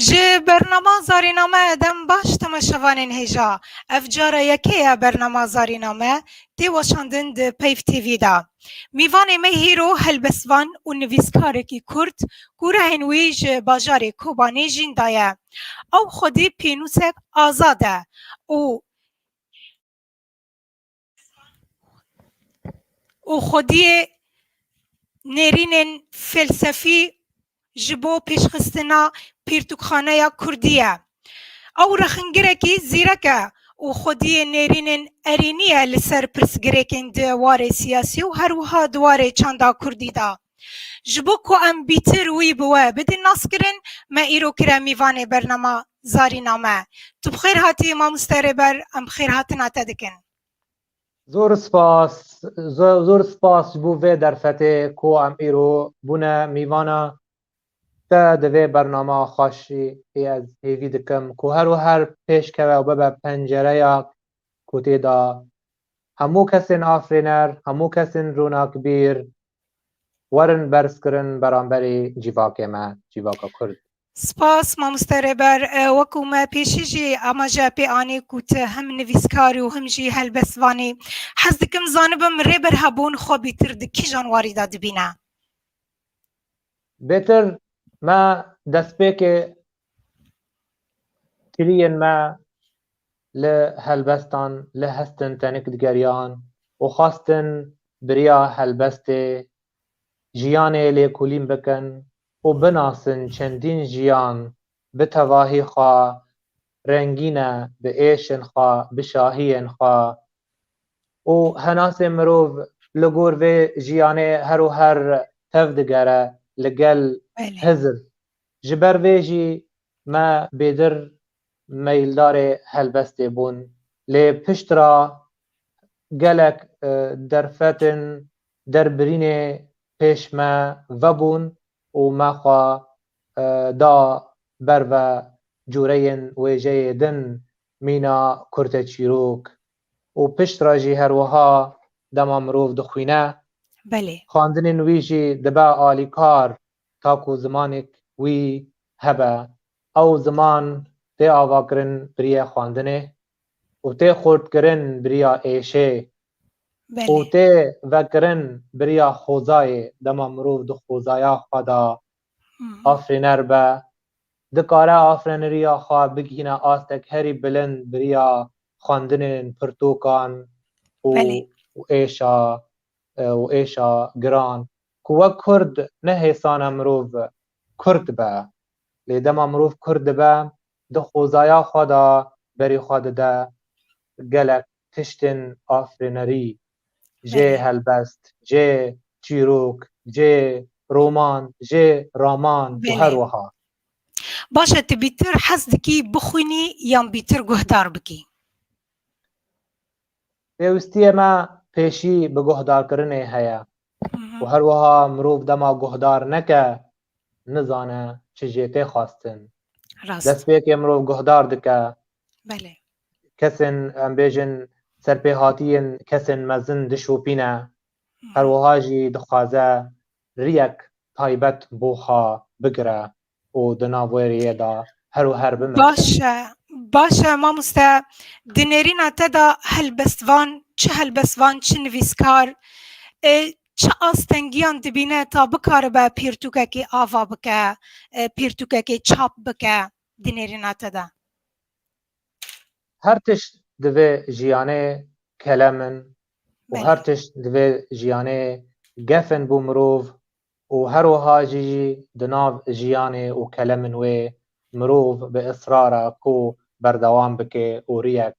Ji bernama zarîname edem baş temaşevanên hêja. Ev cara yekê ye bernama zarîname tê weşandin di Peyv TV de. Mîvanê me hîro helbestvan û nivîskarekî kurd ku rehên wî ji bajarê Kobanê jîn de ye. Ew xwedî pênûsek azad e û. û xwediyê nêrînên felsefî ji bo pêşxistina pirtûkxaneya kurdî ye. Ew rexingirekî zîrek e û xwediyê nêrînên erênî ye li ser pirsgirêkên di warê siyasî û her wiha di warê çanda kurdî de. Ji bo ku em bîtir wî bi we bidin naskirin me îro kire mîvanê bernama Zarîname. Tu bi xêr hatî mamoste Rêber em bi xêr hatina te dikin. Zor spas zor spas ji bo vê derfetê ku em îro bûne mîvana te di vê bernama xweşî ê ez hêvî dikim ku her û her pêş keve û bibe pencereya ku tê de hemû kesên afrêner, hemû kesên ronakbîr werin berz kirin beramberê cîvakê me, cîvaka Kurd. Spas Mamoste Rêber, wekû me pêşî jî amaje pê anî ku tu him nivîskar û him jî helbestvan î. Hez dikim zanibim Rêber hebûn xwe bîtir di kîjan warî de dibîne? Bêtir me destpêkê kiriyên me li helbestan li hestin tenik digeriyan û xwestin biriya helbestê jiyanê lêkolîn bikin û binasin çendîn jiyan bi tevahî xwe rengîne, bi êşên xwe, bi şahiyên xwe û henasê mirov li gor vê jiyanê her û her tev digere li gel hizir. Ji ber vê jî me bêdir meyildarê helbestê bûn. Lê piştre gelek derfetên derbirînê pêş me vebûn û me xwe da ber ve cureyên wêjeyê din mîna kurte çîrok û pişt re jî her wiha dema mirov dixwîne Belê. xwendinên wî jî dibe alîkar ta ku zimanêk wî hebe. Ew ziman tê avakirin biriye xwendinê. Û tê xurtkirin biriya êşê. Û Belê. tê vekirin biriya xozayê, dema mirov di xozaya xwe de afirîner be, dikare afireniriya xwe bigihîne astek herî bilind biriya xwendinên pirtokan û Belê. û êşa û êşa giran ku wek kurd ne hêsane mirov kurd be. Lê dema mirov kurd dibe Di xwezaya xwe de berî xwe dide gelek tiştên afirînerî, jê helbest, jê çîrok, jê roman, jê raman û her wiha. Baş e tu bîtir hez dikî bixwînî yan bîtir guhdar bikî? Pêwistiyê me pêşî bi guhdarkirinê heye û her wiha mirov dema guhdar neke nizane çi jê tê xwestin. Destpêkê mirov guhdar dike. Belê. Kesên em bêjin serpêhatiyên kesên mezin dişopîne. Her wiha jî dixwaze riyek taybet bo xwe bigire. û di nav wê rêyê de her û her bimeşe. Baş e, baş e mamoste. Di nêrîna te de helbestvan, çi helbestvan, çi nivîskar, e, çi astengiyan dibîne ta bikaribe pirtûkekê ava bike, e, pirtûkekê çap bike di nêrîna te de? Her tişt di vê jiyanê kelem in û her Belê. tişt di vê jiyanê gef in bo mirov û her wiha jî di nav jiyanê û kelemên wê mirov bi israr e ku berdewam bike û riyek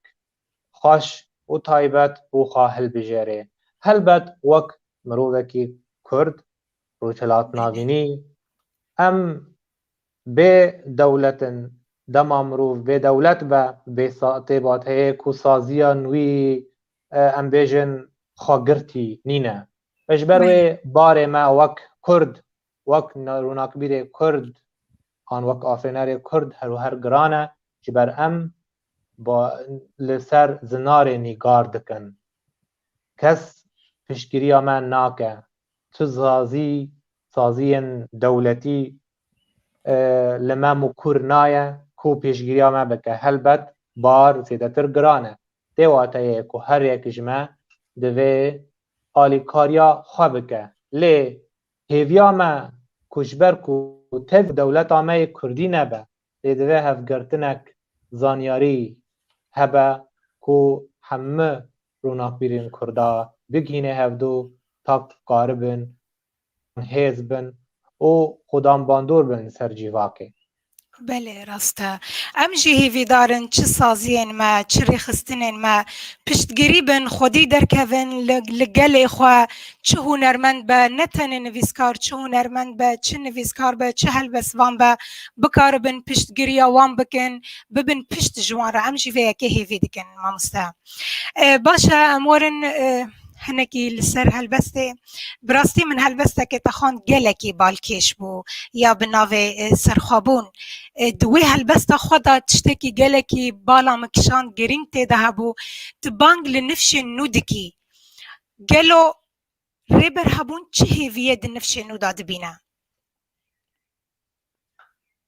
xweş û taybet bo xwe hilbijêre. Helbet wek mirovekî Kurd, rojhilatnavînî, em bê dewlet in, dema mirov bêdewlet be bê têbat heye ku saziya nûî em bêjin xwegirtî nîne. Ji ber wê barê me wek Kurd, wek rûnakbîrê Kurd an wek afirênerê Kurd her û her giran e. Ji ber em li ser zinarê nîgar dikin. Kes piştgiriya me nake. Tu sazî, saziyên dewletî li me mûkur naye ku pêşgiriya me bike. Helbet bar zêdetir giran e. Tê wateyê ku her yek ji me divê alîkariya xwe bike. Lê hêviya me ku ji ber ku tev dewleta me yê kurdî nebe, lê divê hevgirtinek zanyarî hebe ku hemû ronakbîrên kurda bigihînê hevdu ta ku karibin hêz bin û xudan bandor bin li ser cîvakê. Belê rast e. Em jî hîvîdar in çi saziyên me, çi rêxistinên me piştgirî bin, xwedî derkevin li gelê xwe çi hunermend be, ne tenê nivîskar çi hunermend be, çi nivîskar be, çi helbestvan be bikaribin piştgiriya wan bikin, bibin pişt ji wan re. Em jî vê yekê hêvî dikin mamoste. Baş e em werin hinekî li ser helbestê. Bi rastî min helbestekê te xwend gelekî balkêş bû ya bi navê Serxwebûn. Di wê helbesta xwe de tiştekî gelekî bala min kişand girîng tê de hebû. Tu bang li nifşên nû dikî. Gelo Rêber Hebûn çi hêviyê di nifşên nû de dibîne?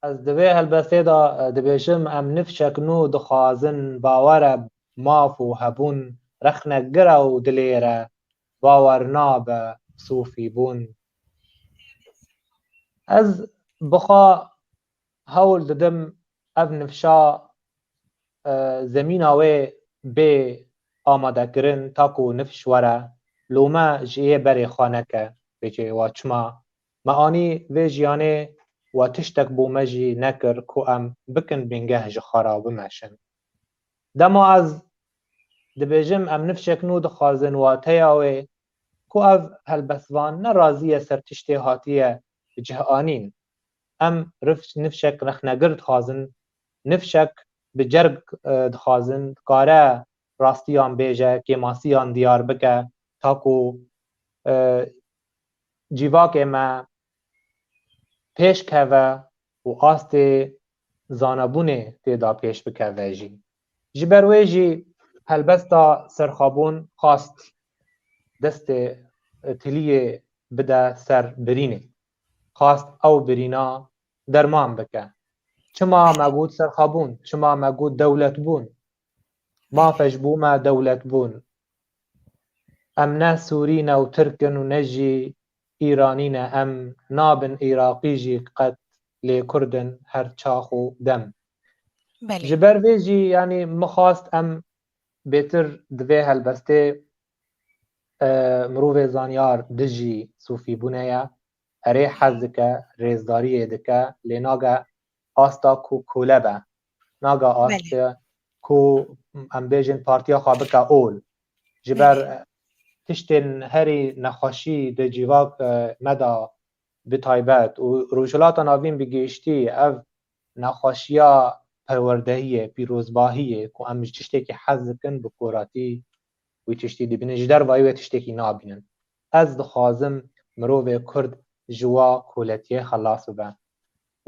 Ez di vê helbestê de dibêjim em nifşek nû dixwazin bawere maf û hebûn rexne gir e û dilêre bawer nabe sofî bûn. Ez bixwe hewl didim ev nifşa zemîna wê bê amadekirin ta ku nifş were lome ji yê berê xwe neke bê cihê we çima Me anî vê jiyanê we tiştek bo me jî nekir ku em bikin bingeh ji xwe re bimeşin. Dema ez dibêjim em nifşek nû dixwazin wateya wê ku ev helbestvan ne razî ye ser tiştê hatiye bi cih anîn. Em nifşek rexnegir dixwazin, nifşek bi cerg dixwazin dikare rastiyan bêje, kêmasiyan diyar bike ta ku cîvakê me pêş keve û astê zanebûnê têda pêş bikeve jî. Ji ber wê jî helbesta serxabûn xwast destê Tiliyê bide ser birînê. Xwast ew birîna derman bike. Çima me got serxabûn, çima me got dewletbûn, Mafej bû me dewlet bûn. Em ne Sûrî ne û Tirk in û ne jî Îranî ne em nabin Îraqî jî qet lê Kurd in her çax û dem. Belê. Ji ber vê jî yanî min xwast em bêtir di vê helbestê mirovê zanyar dijî sûfîbûnê ye. Erê hez dike, rêzdariyê dike lê nage asta ku kule be. Naga ast ku em bêjin partiya xwe bike ol. Ji ber tiştên herî nexweşî di civak me de bi taybet û Rojhilata Navîn bi gihiştî ev nexweşiya perwerdehiyê, pîrozbahiyê ku em ji tiştekî hez dikin bi koratî wî tiştî dibînin, ji dervayî wê tiştekî nabînin. Ez dixwazim mirovê Kurd ji wa kuletiyê xelas bibe.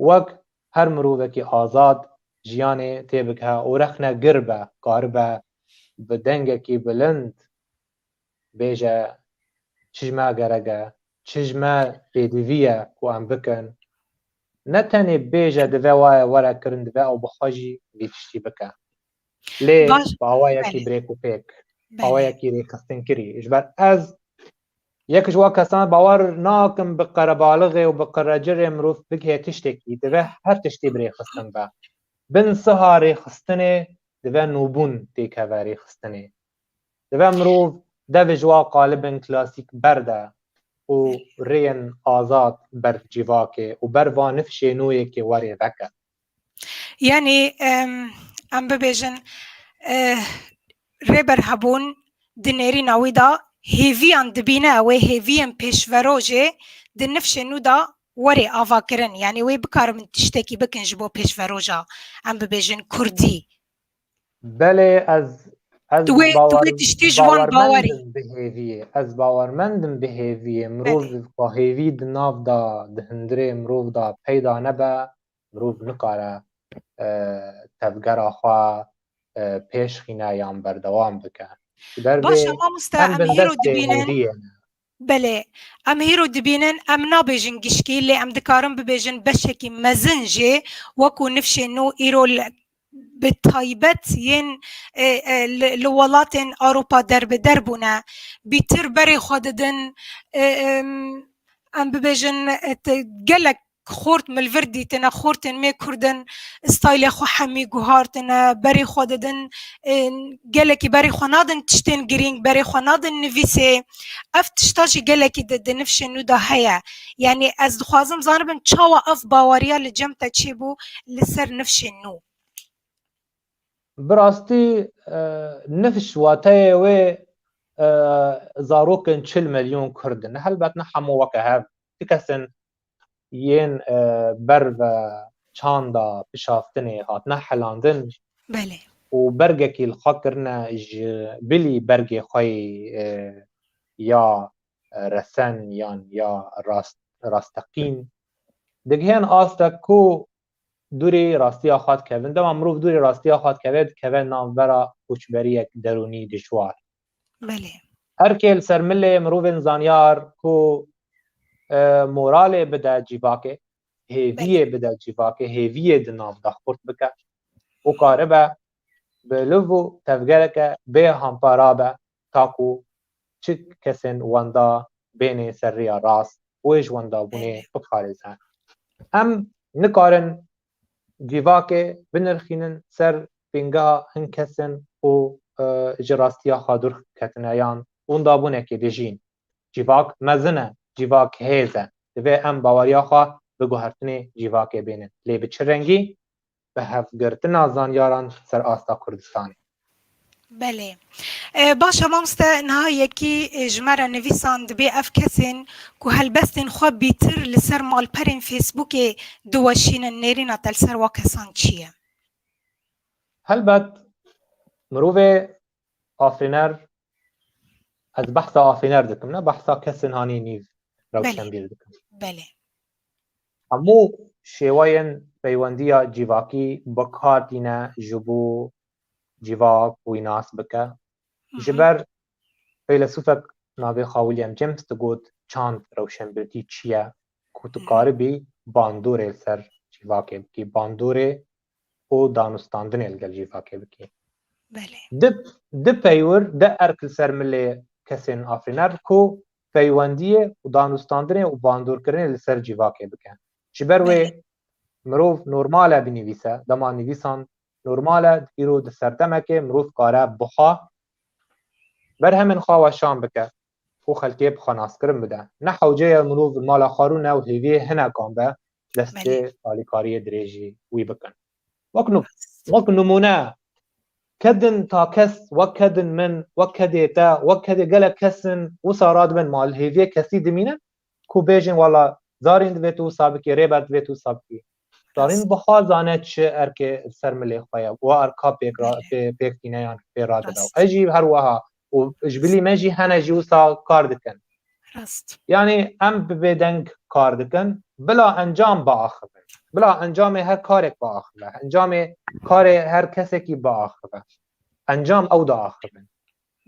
Wek her mirovekî azad jiyanê tê bike û rexne gir be, karibe bi dengekî bilind bêje çi ji me gerek e, çi ji me pêdivî ye ku em bikin. Ne tenê bêje divê waye were kirin, divê ew bi xwe jî vî tiştî bike. lê bi awayekî birêk û pêk awayekî rêxistinkirî ji ber ez yek ji wan kesan bawer nakim bi qerebalixê û bi qerecirê mirov bighe tiştekî divê her tiştî bi rêxistin be bin siha rêxistinê divê nûbûn têkeve rêxistinê divê mirov devê ji wan qalibên klasîk berde û rêyên azad ber cîvakê û ber van nifşê nûyekê werê veke Yanî em bibêjin Rêber Hebûn di nêrîna wî de hêviyan dibîne wê hêviyên pêşvero jê di nifşên nû de werê avakirin yanî wê bikarin tiştekî bikin ji bo pêşveroja em bibêjin kurdî Belê ez ez Tu wê- tu bawer wê tiştê ji wan bawer bawerî. mendim bi hêviyê. Ez bawer mendim bi hêviyê. Mirov Belê. xwe hêvî di nav de di hundirê mirov de peyda nebe mirov nikare eh, tevgera xwe eh, pêşxîne yan berdewam bike. Ji ber vê Baş e mamoste em em bi hêro bindestê dibînin. hêviyê ne. Belê, em hêro dibînin, em nabêjin gişkî lê em dikarin bibêjin beşekî mezin jê wekû nifşên nû îro li bi taybet yên li welatên Ewropa derbeder bûne. Bîtir berê xwe didin em bibêjin gelek Xort milvir dîtine, xortên me Kurd in, staylê xwe hemî guhartine, berê xwe didin, gelekî berê xwe nadin tiştên girîng, berê xwe nadin nivîsê. Ev tişta jî gelekî di di nifşên nû de heye. Yanî ez dixwazim zanibim çawa ev baweriya li cem te çêbû li ser nifşên nû? Bi rastî nifş wateyê wê zarokên çil milyon Kurd in. Helbet ne hemû weke hev Ti kesên yên ber ve çanda pişaftinê hatine helandin û bergekî li xwe kirine ji bilî bergê xwe yê ya resen yan ya rasteqîn digihên asta ku dûrê rastiya xwe dikevin. Dema mirov dûrê rastiya xwe dikeve, dikeve navbera koçberiyek derûnî dijwar. Belê. Erkê li ser milê mirovên zanyar ku moralê bide cîvakê, hêviyê bide cîvakê, hêviyê di nav de xurt bike û karibe bi liv û tevgereke bê hampa rabe ta ku çi kesên wenda bênê ser rêya rast û ê ji wendabûnê biparêze. Em nikarin civakê binirxînin ser pêngeha hin kesin ku ji rastiya xwe dûr ketine yan wenda bûnekê dijîn. Civak mezin e, civak hêz e. Divê em baweriya xwe bi guhertinê civakê bênin. Lê bi çi rengî? Bi hevgirtina zanyaran ser asta Kurdistanê. Belê. Baş e mamoste niha yekî ji me re nivîsan dibê ev kesên ku helbestên xwe bîtir li ser malperên Facebookê diweşînin nêrîna te li ser wa kesan çi ye? Helbet mirovê afirîner Ez behsa afêner dikim ne behsa kesên hanê nîv rewşenbîr dikim. Belê. Hemû şêwayên peywendiya cîvakî bikar tîne ji bo cîvak wî nas bike. Ji ber feylesûfek navê xwe William James digot çand rewşenbîrtî çi ye ku tu karibî bandorê li ser cîvakê bikî bandorê û danûstandinê li gel JIFAKê bikî. Belê. Di di peywir de erk li ser milê kesên afrîner ku peywendiyê û danûstandinê û bandorkirinê li ser JIFAKê bike. Ji ber wê mirov normal e binivîse, dema nivîsan normal e îro di serdemekê mirov kare buha berhemên xwe weşan bike. Xwe xelkê bi xwe naskirin bide. Ne hewce ye mirov bi mala xwe rûne û hêviyê hinekan be destê alîkariyê dirêjî wî bikin. Wek wek nimûne kedin ta kes wek kedin min, wek kedê te, wek kedê gelek kes in wisa radibin ma li hêviyê kesî dimînin ku bêjin wala zarîn divêt wisa bikî, rêber divêt wisa bikî. Darîn bixa zane çi erkê ser milê xwe ye û erka pêk pêk tîne yan pê radida. Ez jî her weha û ji bilî me jî hene jî wisa kar dikin. Yanî em bi bêdeng kar dikin bila encam biaxivin. Bila encamê her karek biaxive. Encamê karê her kesekî biaxive. Encam ew diaxivin.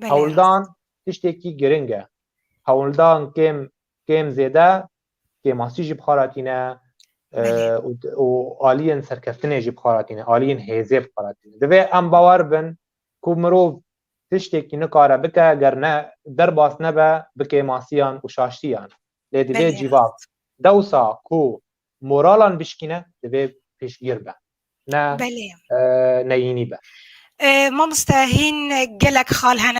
Hewldan tiştekî giring e. Hewldan kêm Kêm zêde kêmasî jî bi xwe re tîne û aliyên serkeftinê jî bi xwe re tîne, aliyên hêzê bi xwe re tîne. Divê em bawer bin ku mirov tiştekî nikare bike ger ne derbas nebe bi kêmasiyan û şaştiyan. Lê divê cîvav dewsa ku moralan bişkîne divê piştgir be ne neyînî be. Mamoste hîn gelek xal hene.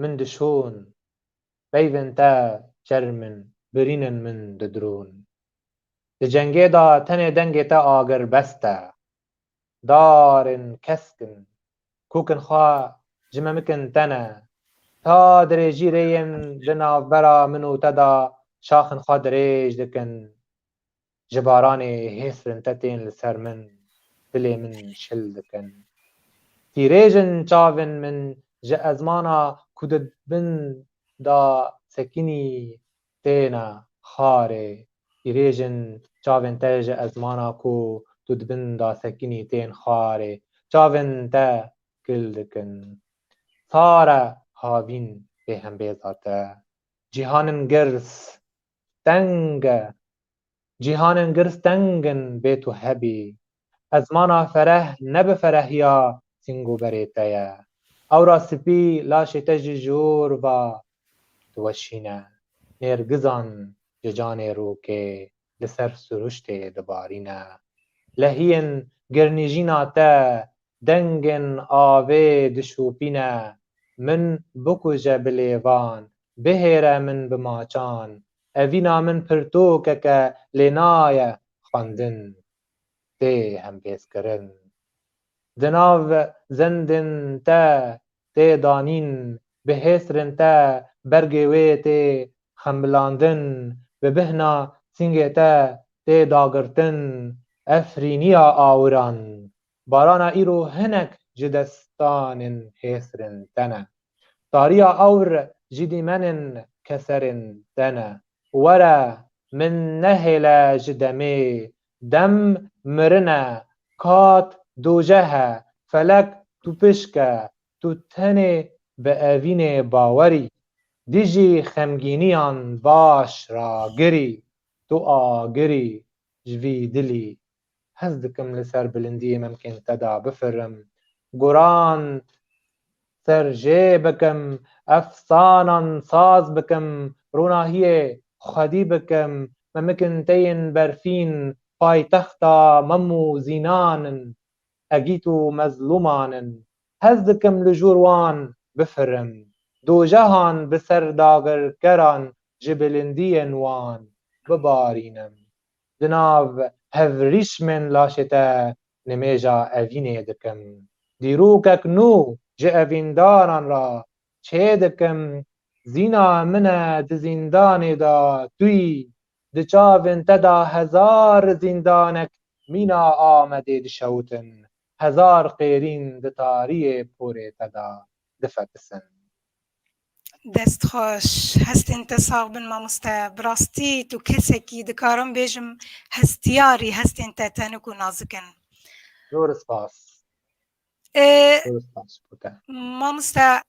min dişon. Peyvên te çerm in, birînin min didirûn. Di cengê de tenê dengê te agirbest e. Darên kesk in, kûkin xwe ji memikin te ne. Ta dirêjî rêyên di navbera min û te de şaxên xwe dirêj dikin. Ji baranê hê sirintetên li ser min dilê min şil dikin. Tîrêjin çavên min ji ezmana ku di bin da sekinî têne xarê. Tîrêjin çavên te ji ezmana ku tu di bin da sekinî tên xarê. Çavên te kil dikin. Sar e havîn bêhembêza te. Cîhanin girs Teng e. Cîhanên girs teng in bê tu hebî. Ezmana fereh ne bi ferehiya sîngoberê te ye. Ewra spî laşê te ji jor ve diweşîne. Nêrgizan ji canê rokê li ser siruştê dibarîne. Lehiyên girnîjîna te dengên avê dişopîne. Min bikuje bi lêvan Bihêre min bi maçan. Evîna min pirtûkek e lê naye xwendin. Tê hempêzkirin. Di nav zindên te tê danîn, bi hêsrên te bergê wê tê xembilandin, bi bihna sîngê te tê dagirtin. Efrîniya awiran Barana îro hinek ji destanên hêsrên te ne. Tariya ewr ji dîmenên keserên te ne. Were min nehêle ji demê dem mirin e, kat doceh e, felek tu pişk e, tu tenê bi evînê bawer î. Dijî xemgîniyan baş ragir î. Tu agir î ji vî dilî Hez dikim li ser bilindiyê memkên te de bifirim, guran ser jê bikim, efsanan saz bikim, ronahiyê xwedî bikim, memikên te yên berfîn paytexta mem û zînan in, egît û mezlûman in. Hez dikim li jûr wan bifirim, dojehan bi ser dagirkeran ji bilindiyên wan bibarînim. Di nav hevrîsmên laşê te nimêja evînê dikim. Dîrokek nû ji evîndaran re çê dikim, zîna min e di zîndanê de tuyî, di çavên te de hezar zîndanek mîna Amedê dişewitin, hezar qêrîn di tariyê porê te de difetisin. Dest xweş, hestên te sax bin mamoste. Bi rastî tu kesek î, dikarim bêjim hestiyar î, hestên te tenik û nazik in. Zor spas. Zor spas bo te. Mamoste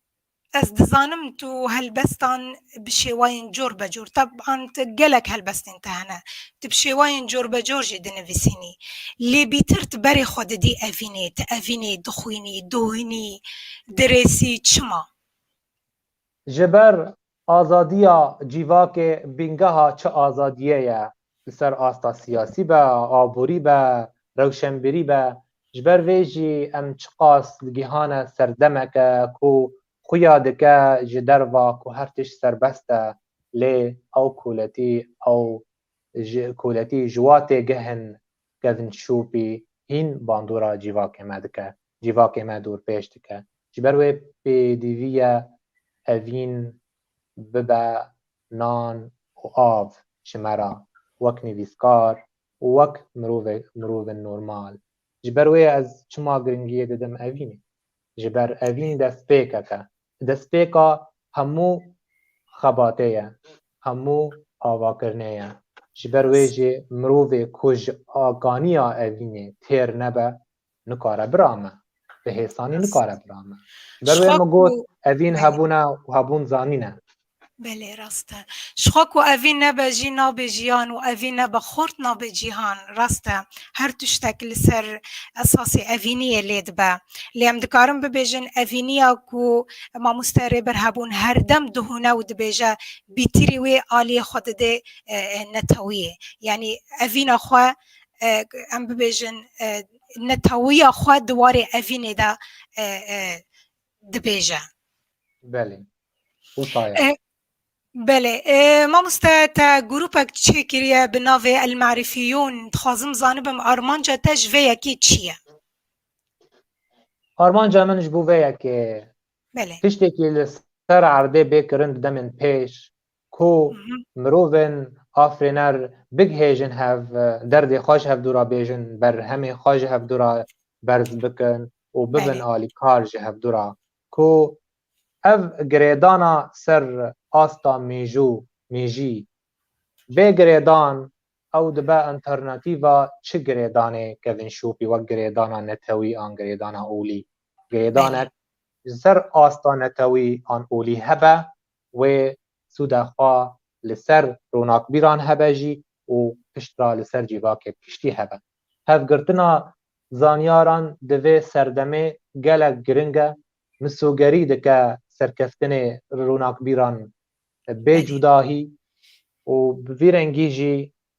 ez dizanim tu helbestan bi şêwayên cor be cor, teban ti gelek helbestên te hene. Ti bi şêwayên corbecor jî dinivîsînî. Lê bîtir ti berê xwe didî evînê, ti evînê, dixwînî, dohînî, dirêsî, çima? Ji ber azadiya cîvakê bîngeha çi azadiyê ye, li ser asta siyasî be, aborî be, rewşenbîrî be, ji ber vê jî em çiqas digihane ser demeke ku Xuya dike ji derva ku her tişt serbest e lê ew koletî ew ji koletî ji wa têgihn Kevin Şûpî hîn bandora cîvakê me dike, cîvakê me dorpêş dike. Ji ber wê pêdivî ye tevîn bibe nan û av ji me re wek nivîskar û wek mirovek mirovên normal. Ji ber wê ez çima giringiyê didim evînê. Ji ber evîn destpêkek e. Destpêka hemû xebatê ye, hemû avakirinê ye. Ji ber wê jî mirovê ku ji akaniya evînê têr nebe, nikare birame. Bi hêsanî nikare birame. Ji ber wê min got, evîn hebûn e û hebûn zanîn e. Belê rast e. Jixwe ku evî nebe jî nabe jiyan û evî nebe xort nabe cîhan. Rast e. Her tiştek li ser esasê evîniyê lê dibe. Lê em dikarin bibêjin evîniya ku Mamoste Rêber Hebûn her dem dihûne û dibêje bîtirî wê aliyê xwe didê netewiyê. Yanî evîna xwe em bibêjin netawiya xwe di warê evînê de dibêje. Belê. Hûtaya. E, Belê. E, mamoste te grûpek çê kiriye bi navê El Marifîyûn. Dixwazim zanibim armanca te ji vê yekê çi ye? Armanca min ji bo vê yekê Belê. tiştekî li ser erdê bê kirin di demên pêş ku mirovên afirêner bigihêjin hev, derdê xwe ji hevdû re bêjin, berhemên xwe ji hevdû re berz bikin û bibin alîkar ji hevdû re. Ku ev girêdana ser asta mêjû, mêjî, bê girêdan ew dibe enternatîva çi girêdanê Kevin Şûpî wek girêdana netewî an girêdana olî. Girêdanek ji ser asta netewî an olî hebe wê sûda xwe li ser ronakbîran hebe jî û piştre li ser cîvakê piştî hebe. Hevgirtina zanyaran di vê serdemê gelek giring e, misogerî dike serkeftinê ronakbîran bê cudahî û bi vî rengî jî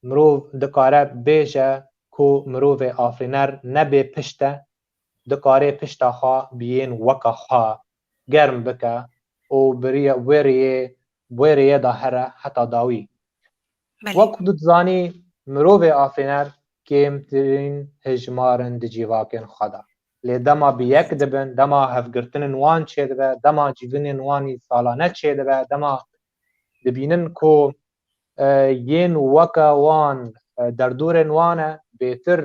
mirov dikare bêje ku mirovê afirîner ne bê pişt e, dikarê pişta xwe biyên weka xwe germ bike û bi wê rêyê bi wê rêyê de here heta dawî. Belê. Wek ku tu dizanî mirovê afirîner kêmtirîn hejmar in di civakên xwe de. Lê dema bi yek dibin, dema hevgirtinên wan çêdibe, dema civînên wan î salane çêdibe, dema dibînin ku yên weke wan derdorên wan e bêtir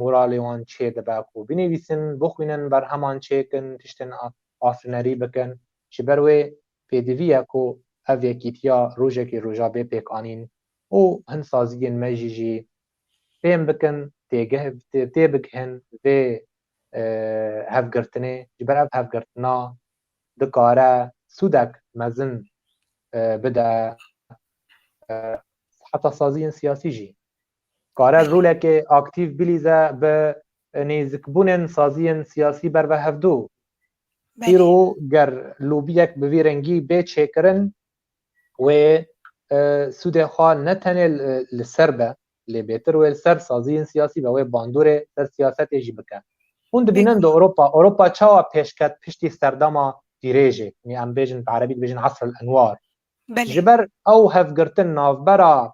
Moralê wan çê dibe ku binivîsin, bixwînin, berheman çêkin, tiştên afirnerî bikin. Ji ber wê pêdivî ye ku ev yekîtiya rojekê roja bê pêk anîn û hin saziyên me jî jî fêm bikin, têbigihin vê hevgirtinê. Ji ber ev hevgirtina dikare sûdek mezin bide heta saziyên siyasî jî. Kare rolekê aktîv bilîze bi nêzikbûnên saziyên siyasî ber ve hevdu. Îro ger lobiyek bi vî rengî bê çêkirin wê sûdê xwe ne tenê li ser be lê bêtir wê li ser saziyên siyasî be wê bandorê ser siyasetê jî bike. Hûn dibînin di Ewropa Ewropa çawa pêşket piştî serdema dirêjê, em bêjin bi erebî dibêjin asr el enwar, Belê. Ji ber ew hevgirtin navbera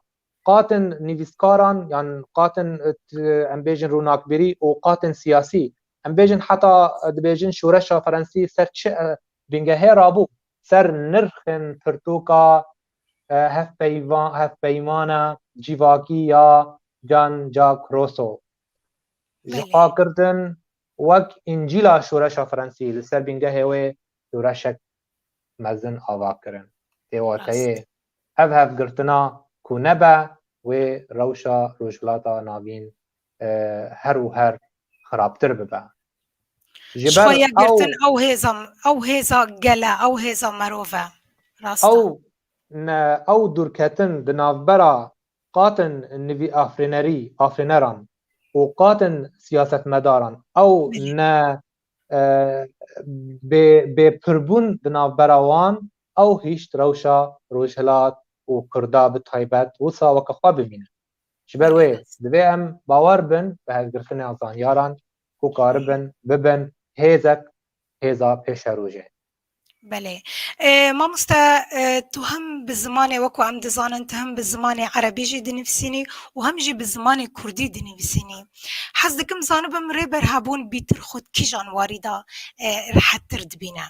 qatên nivîskaran yan qatên em bêjin ronakbîrî û qatên siyasî em bêjin heta dibêjin şoreşa ferensî ser çi bingehê rabû ser nirxên pirtoka hevpeyvan hevpeymana cîvakî ya Jean Jacques Rousseau ji Belê. xwe kirdin wek încîla şoreşa ferensî li ser bingehê wê şoreşek mezin ava kirin. Tê wateyê hev hev girtina ku nebe wê rewşa Rojhilata Navîn her û her xirabtir bibe. Ji ber ew hêza gele ew hêza merov e. Ew ew dûrketin di navbera qatin nivîafrênerî afrêneran û qatin siyasetmedaran ew ne Bê bê pirbûn di navbera wan ew hişt rewşa Rojhilat û Kurda bi taybet wisa weke xwe bimîne. Ji ber wê divê em bawer bin bi hevgirtina zanyaran ku karibin bibin hêzek hêza pêşerojê. Belê. Mamoste tu hem bi zimanê wek em dizanin tu hem bi zimanê erebî jî dinivîsînî û hem jî bi zimanê kurdî dinivîsînî. Hez dikim zanibim rê berhebûn bîtir xwe di kîjan warî de rehettir dibîne?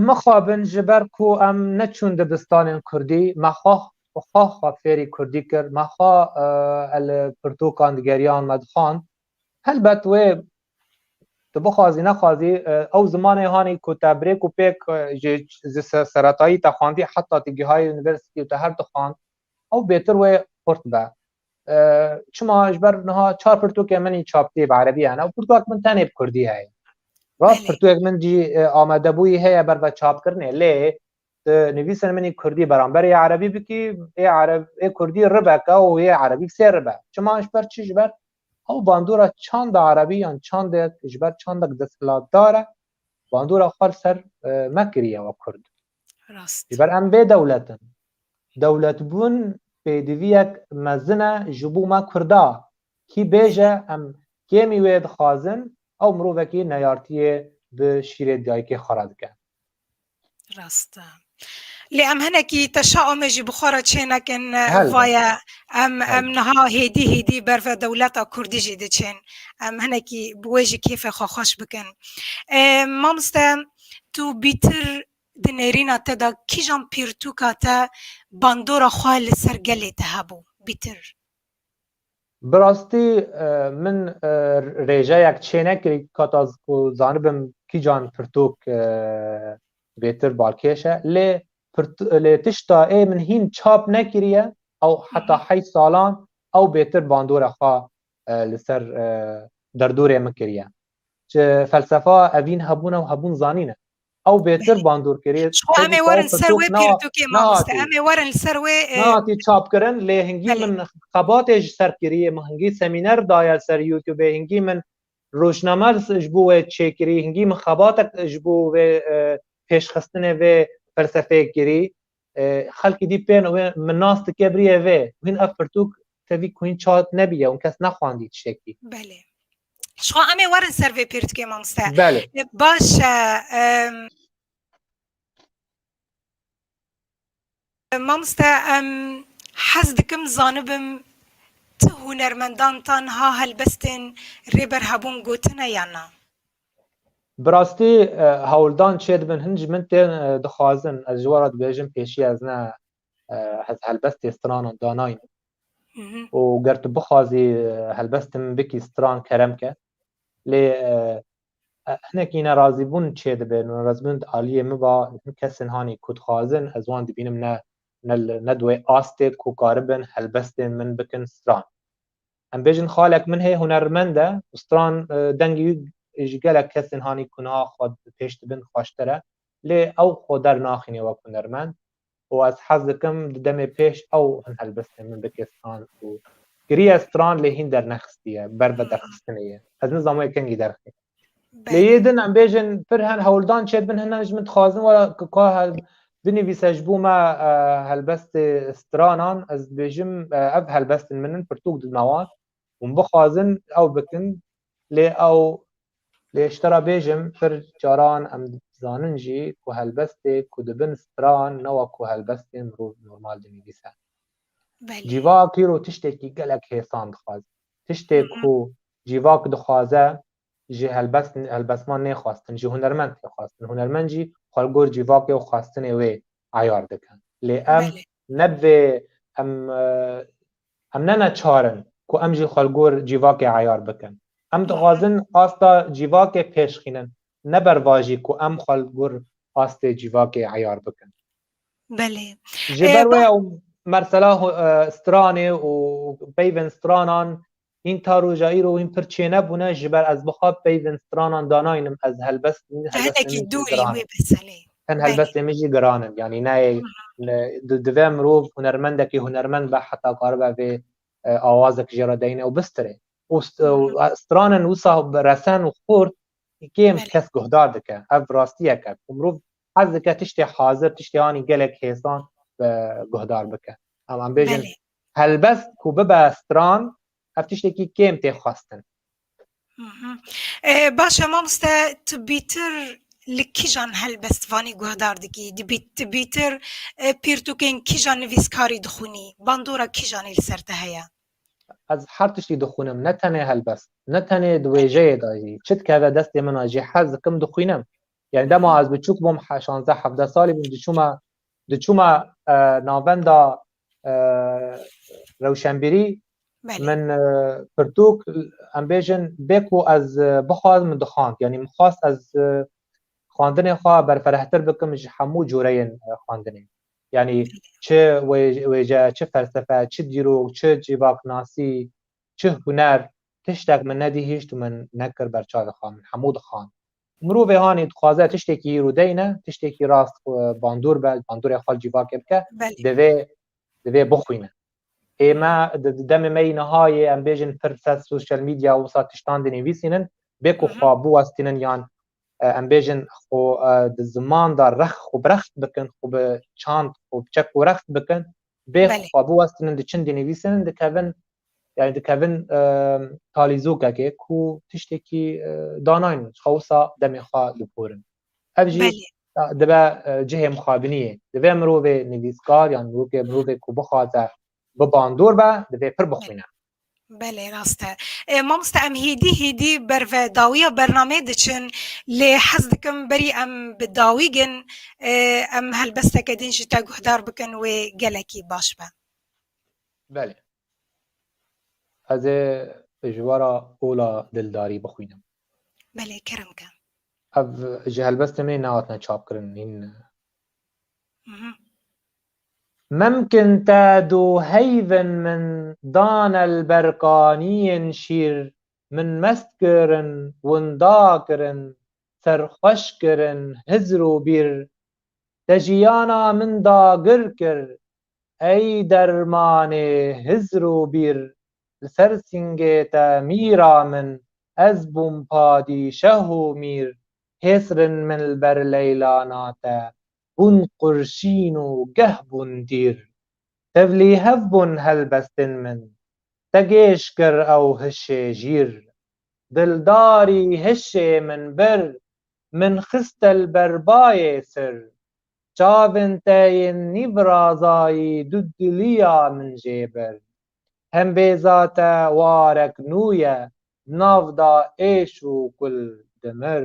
Mixabin ji ber ku em neçûn dibistanên kurdî me xwe xwe fêrî kurdî kir, me xwe li pirtûkan digeriyan me dixwand Helbet wê tu bixwazî nexwazî ew zimanê hanî ku te birêk û pêk ji ji seretayî te xwandî heta tu gihayî universitî û te her dixwand ew bêtir wê xurt be. Çima ji ber niha çar pirtûkê min çaptî bi erebî hene û pirtûk min tenê bi kurdî heye. Rast pirtûkek min cî amadebûyî heye ber ve çapkirinê lê Tu nivîsên min ê kurdî beramber ê erebî bikî, ê ereb ê kurdî ribeke û ê erebî sê ribe. Çima ji ber çi ji ber ew bandora çanda erebî yan çandek ji ber çandek desthilatdar e bandora xwe li ser me kiriye wek kurd. Ji ber em bê dewlet in. Dewletbûn pêdiviyek mezin e ji bo me kurda. Kî bêje em kêmî wê dixwazin ew mirovekî neyartiyê bi şîrê dayikê xwe re dike. Rast e. Lê em hinekî teşaûmê jî bi xwe re çênekin vaye em em niha hêdî hêdî ber ve dewleta Kurdî jî diçên. Em hinekî bi wê jî kêfê xwe xweş bikin. Mamoste tu bîtir di nêrîna te de kîjan pirtûka te bandora xwe li ser gelê te hebû bîtir? Bi rastî min rêjeyek çênekir heta ku zanibim kîjan pirtûk bêtir balkêş e. Lê lê tişta ê min hîn çap nekiriye ew heta heyt salan ew bêtir bandora xwe li ser derdorê min kiriye. Ji felsefa evîn hebûna û hebûn zanîn e. Ew bêtir bandorkirî. Ji xwe em ê werin li ser wê pirtûkê mamoste. Em ê werin li ser wê. Nehatî çapkirin lê hingî min xebatê ji ser kirî. Min hingî semîner daye li ser youtubê. Hingî min rojname ji bo wê çêkirî. Hingî min xebatek ji bo wê pêşxistinê vê felsefeyê kirî. Xelkî dî pêno wê min nas dike biriyê vê û hîn ev pirtûk tevî ku hîn çat nebîye û kes nexwandî tiştekî. Belê. Jixwe em ê werin ser vê pirtûkê mamoste. Belê. Baş e. Mamoste em hez dikim zanibim tu hunermendan tanha helbestên Rêber Hebûn gotine yan na? Bi rastî hewldan çêdibin hin ji min tên dixwazin ez ji we re dibêjim pêşî ez ne ez helbestê stranan danayînim û ger tu bixwazî helbestê min bikî stran kerem ke lê hinekî nerazîbûn çêdibe nerazîbûn di aliyê min va hin kesên hanî ku dixwazin ez wan dibînim ne ne di wê astê ku karibin helbestên min bikin stran Em bêjin xalek min hê hunermend e û stran dengê wî ji gelek kesên hanî ku niha xwe pêş dibin xweştir e. Lê ew xwe dernaxîne wek hunermend û ez hez dikim di demê pêş ew hin helbestên min bike stran û kiriye stran lê hîn dernexistiye ber vederxistinê ye. Ez nizam wê kengî derxîne. Lê yê din em bêjin pir hen hewldan çêdibin hinan ji min dixwazin wera ku ka binivîse ji bo me helbestê stranan ez dibêjim ev helbestin min in pirtûk didima wan hûn bixwazin ew bikin lê ew lê ji te re bêjim pir caran em dizanin jî ku helbestê ku dibin stran ne wa ku helbestên mirov normal dinivîse cîvak îro tiştekî gelek hêsan dixwazin tiştê ku Cîvak dixwaze ji helbest helbestman nê xwestin, ji hunermend tê xwestin. Hunermend jî xwe li gor cîvakê û xwestinê wê eyar dike. Lê em Belê. ne bi vê em em ne neçar in ku em jî xwe li gor cîvakê eyar bikin. Em dixwazin asta cîvakê pêşxînin ne ber va jî ku em xwe li gor astê cîvakê eyar bikin. Belê. Ji ber wê ew mersela stranê û peyvên stranan Hîn ta roja îro wîn pir çênebûne ji ber ez bixa peyvên stranan danayînim ez helbest Te hinekî dûrî wê beselê. Hin helbestên min jî giran in yanî neyê divê mirov hunermendekî hunermend be heta karibe vê awazek jê re deyne û bistirê û stranin wisa resen û xurt kêm kes guhdar dike ev rastiyek e ku mirov hez dike tiştê hazir tiştê anî gelek hêsan guhdar bike. Em em bêjin Helbest ku bibe stran ev tiştekî kêm tê xwestin. Baş e mamoste tu bîtir li kîjan helbestvanî guhdar dikî? Di bîtir pirtûkên kîjan nivîskarî dixwînî? Bandora kîjanî li ser te heye? Ez her tiştî dixwînim ne tenê helbest. Ne tenê di wêjeyê de jî. Çi dikeve destê min a jî hez dikim dixwînim. Yanî dema ez biçûk bûm şazdeh hevdeh salî bûm diçûme Di çûma navenda rewşenbîrî min pirtûk em bêjin bê ku ez bixwaz min dixwand yanî min xwast ez xwandinê xwe berferehtir bikim ji hemû coreyên xwandinê yanî çi wêje çi felsefe çi dîrok çi cîvaknasî çi huner tiştek min nedî hîşt min nekir berçavê xwe min hemû dixwand Mirovê anî dixwaze tiştekî îro deyne, tiştekî rast bandor be, bandorê xwe cîvakê bike, divê divê bixwîne. Ê me demê me yî niha yê em bêjin pir ser sosyal medya wisa tiştan dinivîsînin, bê ku xwe biwestînin yan em bêjin xwe di ziman de rex xwe bi rext bikin, xwe bi çand xwe bi çek û rext bikin, Bê xwe biwestinin di çin dinivîsin dikevin yani dikevin talîzokekê ku tiştekî danayn xwe wisa demê xwe diporin. Ev jî dibe cihê mixabiniyê. Divê mirovê nivîskar yan mirovê mirovê ku bixwaze bi bandor be divê pir bixwîne. Belê rast e. Mamoste em hêdî hêdî ber ve dawiya bernameyê diçin lê hez dikim berî em bi dawî gin em helbesteke din jî te guhdar bikin wê gelekî baş be. Belê. Ez ê ji we re ola dildarî bixwînim. Belê kerem ke. Ev ji helbestê me nehatine çapkirin hîn. Mimkin te du heyvên min dane li ber kaniyên şîr, min mest kirin, winda kirin, serxweş kirin, hizr û bîr. Te jiyana min dagir kir. Ey dermanê hizr û bîr, li ser singê te mîra min, ez bûm padîşeh û mîr, hêsrin min li ber leyilana te, bûn qurşîn û geh bûn dîr. Tevlî hev bûn helbestên min, te gêş kir ew hişê jîr. Dildarî hişê min bir, min xiste li ber bayê sir. Çavên te yên nîvrazayî du diliya min jê bir. Hembêza te warek nû ye, nav da êş û kul dimir.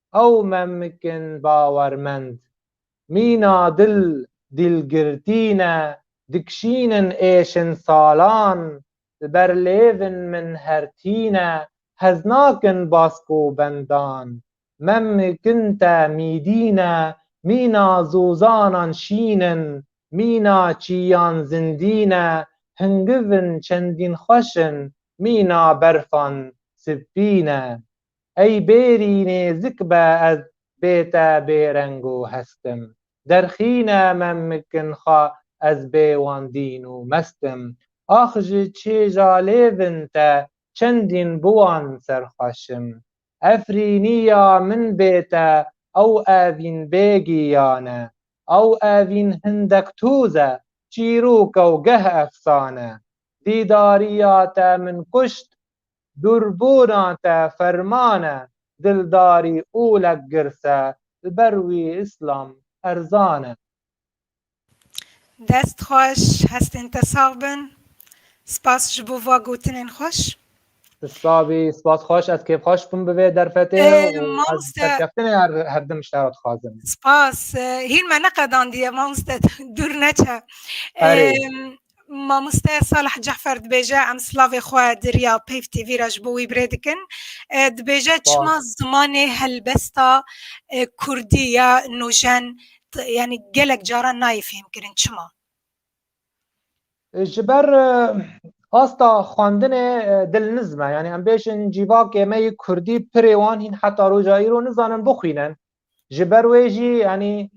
ew memkin bawermend mîna dil dîlgirtî ne dikşînin êşin salan li ber lêvin min her tîne hez nakin basko bendan memkin te mîdîne mîna zozanan şînin mîna çîyan zindîne hingivin çendîn xweşin mîna berfan sipîne. Ey bêrî nêzik be ez bête bêreng û hest im. Derxîne me mikin xwe ez bê wan dîn û mest im. Ax ji çêja lêvin te çendîn bi wan serxweş im. Efrînî ya min bête ew evîn bê giyan e. Ew evîn hindek tûz e, çîrok e û geh efsane. Dîdarîya te min kuşt, Durbûna te ferman e, dildarî olek girs e, li ber wî îslam erzan e. Dest xweş, hestên te sax bin. Spas ji bo va gotinên xweş. Tu sax bî, spas xweş, ez kêfxweş bûm bi vê derfetê û ez serkeftinê herdim ji te re dixwazim. Spas, hîn me neqedandiye mamoste, dûr neçe. Mamoste Salih Cefer dibêje em silavê xwe di riya Peyv TV re ji bo wî birê dikin. Dibêje çima zimanê helbesta Kurdî ya nojen yanî gelek caran nayê fêhmkirin çima? Ji ber asta xwendinê dilniz me yanî em bêjin cîvakê me yê Kurdî pirê wan hîn heta roja îro nizanin bixwînin. Ji ber wê jî yanî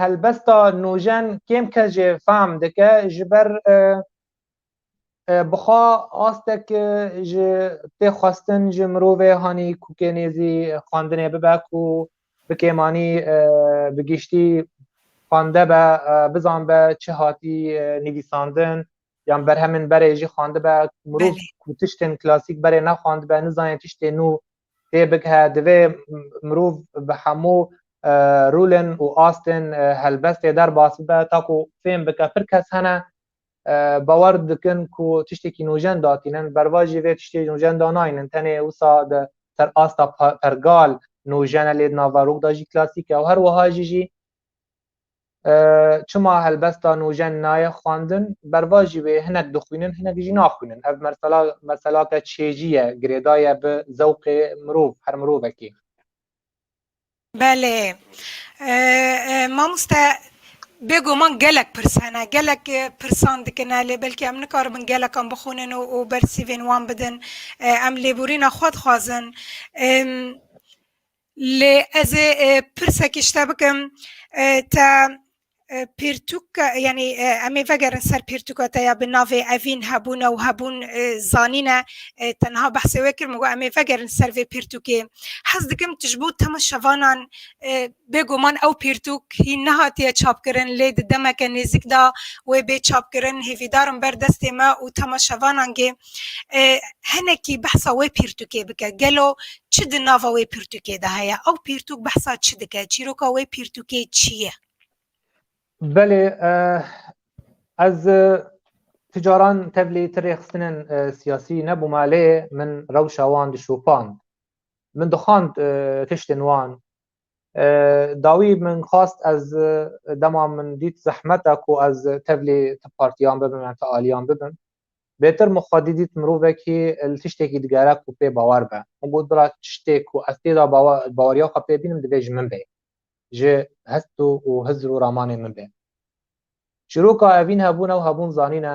helbesta nûjen kêm kes jê fehm dike ji ber bixwa astek ji tê xwestin ji mirovê hanî ku kênêzî xwendinê bibe ku bi kêmanî bi giştî xwende be bizan be çi hatî nivîsandin yan berhemên berê jî xwendibe mirov ku tiştên klasîk berê nexwendibe nizanê tiştê nû tê bighe divê mirov bi hemû rûlên û astên helbestê derbas bibe ta ku fêm bike pir kes hene bawer dikin ku tiştekî nûjen datînin berva jî vê tiştê nûjen danaynin tenê wisa di ser asta pergal nûjene lê di nava rûk da jî klasîk e û her wiha jî jî Çima helbesta nûjen naye xwendin? Bervajî wê hinek dixwînin hinek jî naxwînin. Ev mersela merselake çêjî ye, girêda ye bi zewqê mirov her mirovekê. Belê. Mamoste bêguman gelek pirs hene, gelek pirsan dikine lê belkî em nikaribin gelekan bixwînin û û bersîvên wan bidin. Em lêborîna xwe dixwazin. Lê ez ê pirsekî ji te bikim, te pirtûk yanî em ê vegerin ser pirtûka te ya bi navê Evîn hebûne û hebûn zanîne te niha behsê wê kir min got em ê vegerin ser vê pirtûkê. Hez dikim tu ji bo tema şevanan bêguman ew pirtûk hîn nehatiye çapkirin lê di demeke nêzik de wê bê çapkirin hêvîdarim ber destê me û tema şevanan gê Hinekî behsa wê pirtûkê bike. Gelo çi di nava wê pirtûkê de heye? Ew pirtûk behsa çi dike? Çîroka wê pirtûkê çi ye? Belê ez ti caran tevlî ti rêxistinên siyasî nebûme lê min rewşa wan dişopand. Min dixwand tiştên wan dawî min xwast ez dema min dît zehmet e ku ez tevlî ti partiyan bibim yan ti aliyan bibim. Bêtir min xwedî dît mirovekî li tiştekî digere ku pê bawer be. Min got bira tiştê ku ez tê de baweriya xwe pê bînim divê ji min bê. Ji hest û û hizr û ramanê min bê. Çîroka evîn hebûn ew hebûn zanîne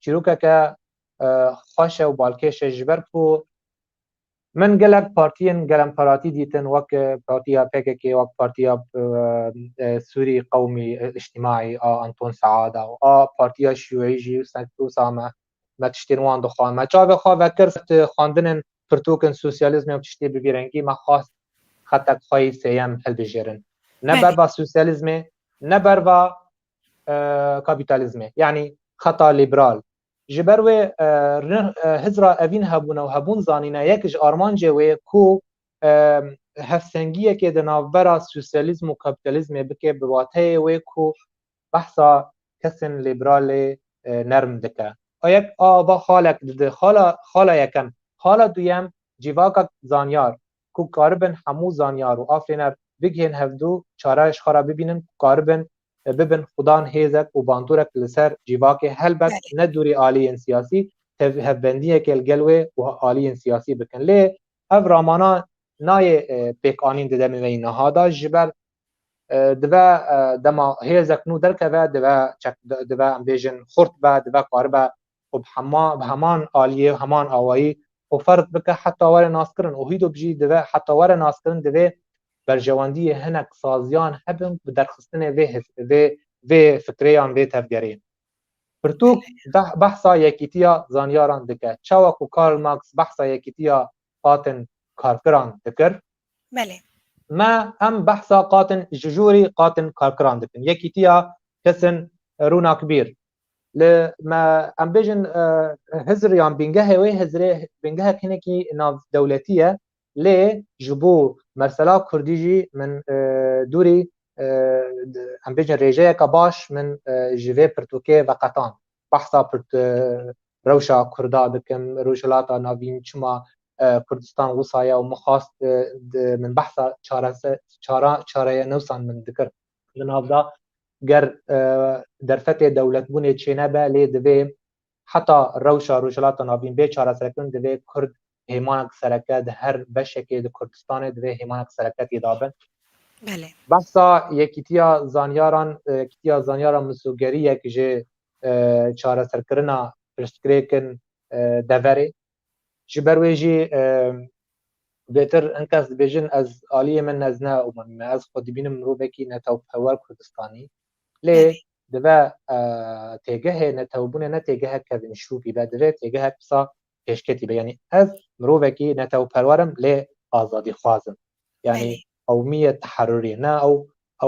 çîrokeke xweş e û balkêş e ji ber ku Min gelek partiyên gelemxweratî dîtin wek partiya pkk, wek partiya Sûrî Qewmî Îctîmaî a Anton Seada û a partiya Şîûî jî wisa me me tiştên wan dixwend. Me çavê xwe vekir di xwendinên pirtûkên sosyalîzmê û tiştê bi vî rengî me xwest xetek xwe yî sêyem hilbijêrin. Ne berva sosyalîzmê ne berva kapîtalîzmê yanî xeta lîbral. Ji ber wê Hizra evîn hebûne û hebûn zanîne yek ji armancê wê ku hevsengiyekê di navbera sosyalîzm û kapîtalîzmê bike bi wateyê wê ku behsa kesên lîbralê nerm dike. A yek a va xalek dide. Xala xala yekem. Xala duyem cîvakek zanyar ku karibin hemû zanyar û afirîner bigihên hevdu çareya ji xwe re bibînin ku karibin bibin xudan hêzek û bandorek li ser cîvakê helbet ne dûrî aliyên siyasî tev hevbendiyekê li gel wê û aliyên siyasî bikin lê ev ramana nayê pêkanîn di demê me yî niha de ji ber dive dema hêzek nû derkeve dive dive em bêjin xurt be dive karibe û bi hema bi heman aliyê û heman awayî xwe ferz bike heta were naskirin û hîdok jî dive heta were naskirin divê berjewendiyê hinek saziyan hebin ku bi derxistinê vê his vê vê fikrê yan vê tevgerê pirtûk beh behsa yekîtiya zanyaran dike çawa ku Karl Marx behsa yekîtiya qatin karkiran dikir Belê. me hem behsa qatin ji jûrî qatin karkiran dikin yekîtiya kesin rûnakbîr Li me em bêjin hizr yan bîngehê wê hizrê bîngehek hinekî navdewletî ye lê ji bo mersela kurdî jî min dûrî em bêjin rêjeyeke baş min ji vê pirtûkê veqetand. Behsa rewşa kurda dikim, rojhilata navîn çima Kurdistan wisa ye û min xwest min behsa çareya newsan min dikir. li nav da ger derfetê dewletbûnê çênebe lê divê heta rewşa Rojhilata Navîn bê çareserkirin divê Kurd hêmanek sereke di her beşekê di Kurdistanê divê hêmanek sereke tê dabin. Belê. Behsa yekîtiya zanyaran yekîtiya zanyaran misogeriyek ji çareserkirina pirsgirêkin deverê Ji ber wê jî bêtir hin kes dibêjin ez aliyê min ez ne û min me ez xwe dibînim mirovekî netewpewer Kurdistanî lê dive têgehê netewbûnê ne têgehek kevin şûkî be divê têgehek pisa pêşketî be yanî ez mirovekî netewperwerim lê azadîxwazim yanî Ew mî ye teherûrî ne ew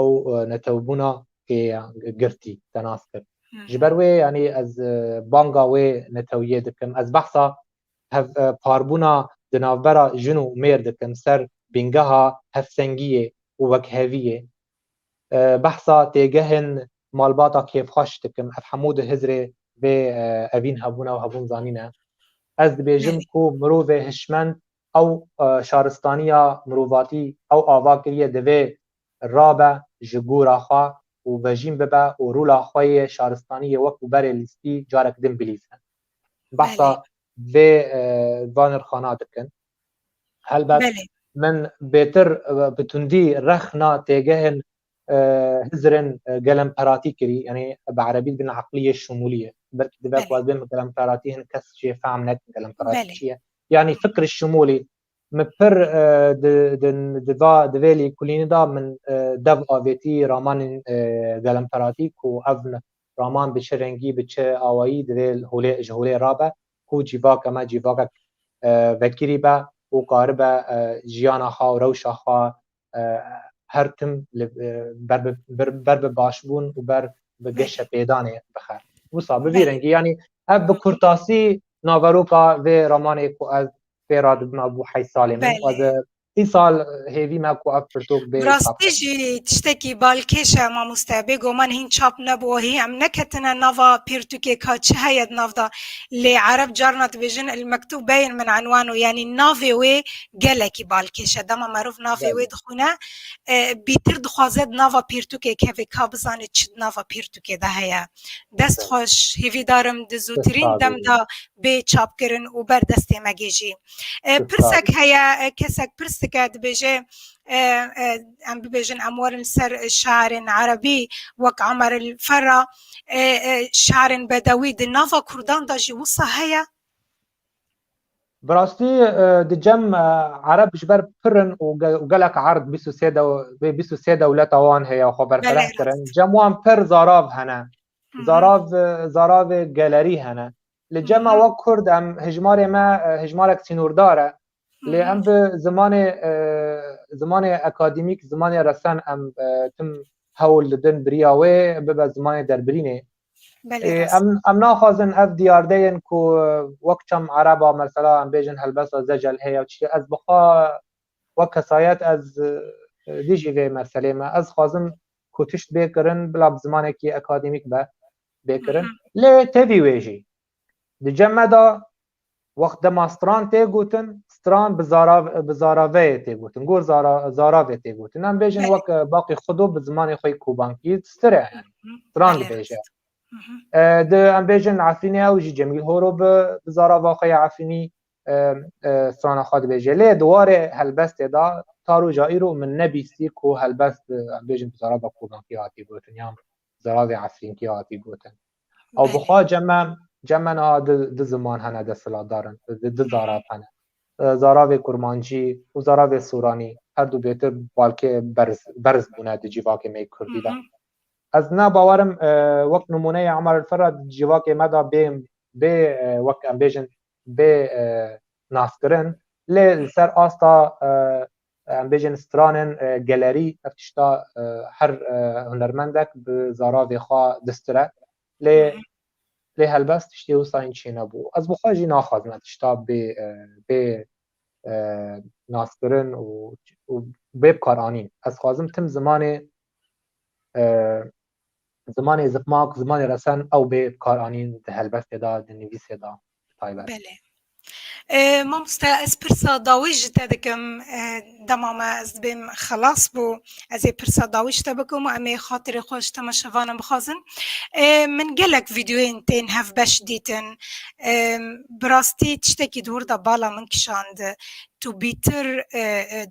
ew netewbûna ê girtî te nas kir. Ji ber wê yanî ez banga wê netewiyê dikim. Ez behsa hev parbûna di navbera jin û mêr dikim ser bîngeha hevsengiyê û wekheviyê. Behsa têgehên malbata kêfxweş dikim. Ev hemû di Hizrê vê evîn hebûna û hebûn zanîne. Ez dibêjim ku mirovê hişmend Ew şaristaniya mirovatî ew ava kiriye divê rabe ji gora xwe û vejîn bibe û rola xwe yê şaristanî yê wekû berê lîstî carek din bilîze. Behsa vê van nirxana dikin. Helbet min bêtir bi tundî rexna têgehên Hizirên gelemperatî kirî yanî bi erebî dibin eqlîyê şumûlî ye. Belkî dibe ku ez bêm gelemperatî hin kes jê fehm nekin gelemperatî çi ye. Yanî fikri şimûlî min pir divêlî kulînî da min dev avêtî ramanên gelemperatî ku ev raman bi çi rengî bi çi awayî divê ji holê rabe ku cîvake me cîvakek vekirî be û karibe jiyana xwe û rewşa xwe her tim ber bi başbûn û ber bi geşe pêdanê bixe. Wisa bi vî rengî yanî ev bi kurtasî naveroka vê ramanê ku ez pê ra dibim ew bû heyt salê min ez îsal hêvî me ku ev pirtûk bê rastî jî tiştekî balkêş e mamoste bê goman hîn çap nebû hî em neketine nava pirtûkê ka çi heye di nav de lê ereb carna dibêjin il mektûb beyên min enwan û yanî navê wê gelekî balkêş e dema merov navê wê dixwîne bîtir dixwaze di nava pirtûkê keve ka bizane çi di nava pirtûkê de heye dest xweş hêvî darim di zûtirîn dem de bê çapkirin û ber destê me gêjî pirsek heye kesek pirs dike dibêje em bibêjin em werin ser şairên erebî wek Emer el Ferra şairên bedewî di nava kurdan de jî wisa heye Bi rastî di cem Ereb ji ber pirin û gelek erd bîst û sê vê bîst û sê dewleta wan heye xwe berfireh kirin. Cem wan pir zarav hene. Zarav zaravê gelerî hene. Li cem me wek Kurd em hijmarê me hijmarek sînordar e. Lê em bi zimanê zimanê akademîk, zimanê resen em tim hewl didin biriya wê bibe zimanê derbirînê. Em em naxwazin ev diyardeyên ku wek çem ereba mesela em bêjin helbesta zecel heye çi ez bixwa wek kesayet ez dijî vê meselê me ez xwazim ku tişt bê kirin bila bi zimanekî akademîk be bê kirin lê tevî wê jî Di cem me de wext dema stran tê gotin, stran bi zarav bi zaraveyê tê gotin, gor zara zaravê tê gotin. Em bêjin Belê. wek e, baqî xudo bi zimanê xwe kobankî stir e yani. Stran Belê dibêje. rast. Mhm. E, di em bêjin Efrînê ew jî Cemîl Horo bi bi zarava xwe ya Efrînî e, e, strana xwe dibêje. Lê di warê helbestê de ta roja îro min nebîstî ku helbest e, em bêjin bi zarava kobankî hatî gotin yan Ziravê Efrînkî hatî gotin. Ew bi xwe ceme ceme niha du du ziman hene desthilatdar in, du du zarav hene. Zaravê kurmancî û zaravê soranî her du bêtir balkê berz berz bûne di cîvakê me yê kurdî de. Ez ne bawer im wek nimûneyê Amar El Ferra di cîvakê me de bê bê wek em bêjin bê naskirin lê li ser asta Em bêjin stranên gelerî ev tişta her hunermendek bi zaravê xwe distire lê lê helbest tiştê wisa in çê nebû. Ez bi xwe jî naxwazim ev tişta bê bê naskirin û û bê bikaranîn. Ez xwazim tim zimanê Zimanê zikmak, zimanê resen ew bê bi kar anîn di helbestê de, di nivîsê de bi taybet. Belê. Mamoste ez pirsa dawî ji te dikim dema me ez dibêm xelas bû ez ê pirsa dawî ji te bikim û em ê xatirê xwe ji temaşevanan bixwazin. Min gelek vîdeoyên tên hevbeş dîtin. Bi rastî tiştekî di wir de bala min kişand. Tu bîtir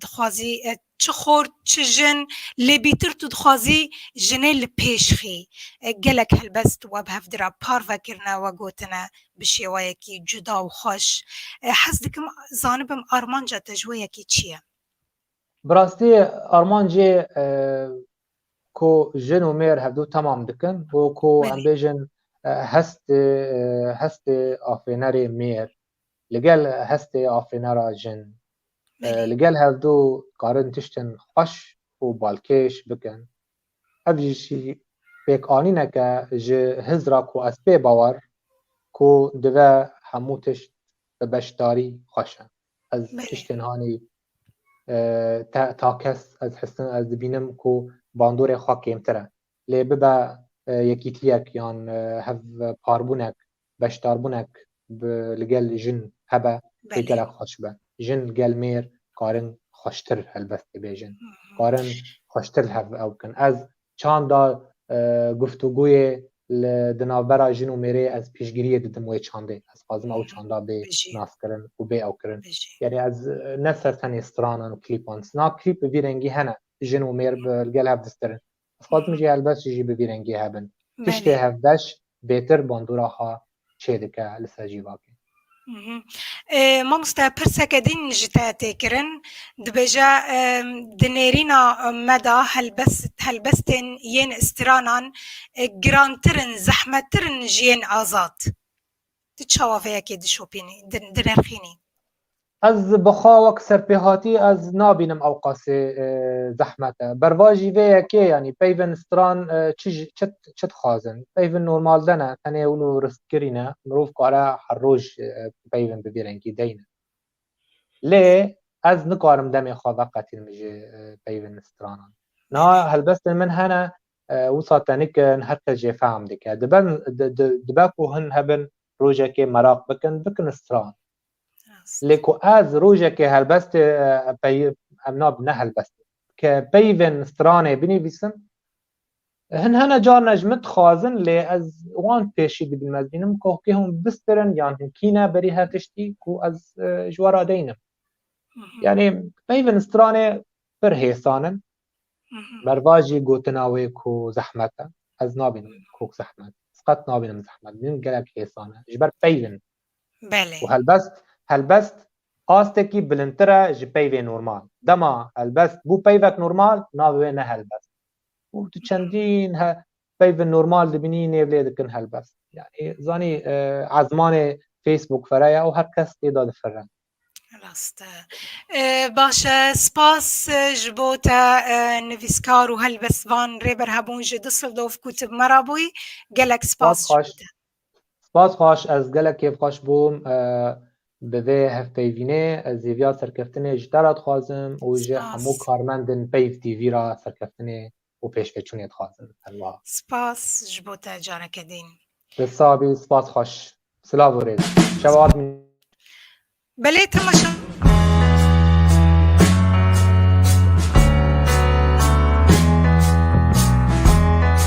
dixwazî Çi xort, çi jin, lê bîtir tu dixwazî jinê li pêş xî. Gelek helbest we bi hev dira parve kirine we gotine bi şêwayekî cuda û xweş. Hez dikim zanibim armanca te ji wê yekê çi ye? Bi rastî armancê ku jin û mêr hevdu temam dikin û ku em bêjin hestê hestê afênerê mêr li gel hestê afênera jin Li gel hevdu dikarin tiştên xweş û balkêş bikin. Ev jî pêkanînek e ji hiz ra ku ez pê bawer ku dive hemû tişt bi beşdarî xweş e. Ez tiştên hanî te ta kes ez hisin ez dibînim ku bandorê xwe kêmtir e. Lê bibe yekîtiyek yan hev parbûnek beşdarbûnek bi li gel jin hebe pê gelek xweş be. Jin gel mêr karin xweştir helbest pê bêjin. Karin xweştir li hev ew bikin. Ez çanda guftûgûyê li di navbera jin û mêrê ez pîşgiriyê didim wê çandê. Ez xwazim ew çanda bê naskirin û bê ew kirin. Yanî ez ne ser tenê stranan û klîpan. Sina klîp bi vî rengî hene. Jin û mêr bi li gel hev distirin. Dixwazim jî helbest jî bi vî rengî hebin. Tiştê hevbeş bêtir bandora xwe çêdike li ser cîvakê. Mamoste pirseke din ji te tê kirin, dibêje di nêrîna me de helbestên yên stranan girantir in, zehmettir in ji yên azad? Tu çawa vê yekê dişopînî, direrxînî? Ez bi xawek serpêhatî ez nabînim ewqasê zehmet e. Berva jî vê yekê yanî peyvên stran çi dixwazin? Peyvên normal de ne, tenê hûn û ristkirî ne. Mirov kare her roj peyvên bi vî rengî deyne. Lê ez nikarim demê xwe veqetînim ji peyvên stranan. Niha helbestên min hene Wisa tenik in her kes jê fehm dike. Diben dibe ku hin hebin rojekê meraq bikin, bikin stran. Lê ku ez rojekê helbestê pey em nab ne helbestê ke peyvên stranê binivîsim hin hene carna ji min dixwazin lê ez wan pêşî dibînim ez bînim ku hokê hûn bistirin yan hin kîne berî her tiştî ku ez ji we re deynim. Yanî peyvên stranê pir hêsan in Merva jî gotina wê ku zehmet e. Ez nabînim kok zehmet. Ez qet nabînim zehmet. Min gelek hêsan e. Ji ber peyv in. Belê. Û helbest, helbest astekî bilindtir e ji peyvê normal. Dema helbest bû peyvek normal, navê wê ne helbest. Û tu çendîn he, peyvên normal dibînî nêv lê dikin helbest. Yanî zanî ezmanê Facebook fere ye û her kes tê de difire. Rast e. Ee, Baş e. Spas e, ji bo te e, nivîskar û helbest van Rêber Hebûn ji Düsseldorf ku tu bi me re bûyî. Gelek spas ji bo te. Spas xweş, ez gelek kêfxweş bûm e, bi vê hevpeyvînê ez hêviya serkeftinê ji te re dixwazim û ji hemû Spas. karmendên Peyv TV re serkeftinê û pêşveçûnê dixwazin. Her wiha. Spas ji bo te careke dîn. Te sax bî, spas xweş. Silav û rêz. Şev ard mî. Belê temaşa.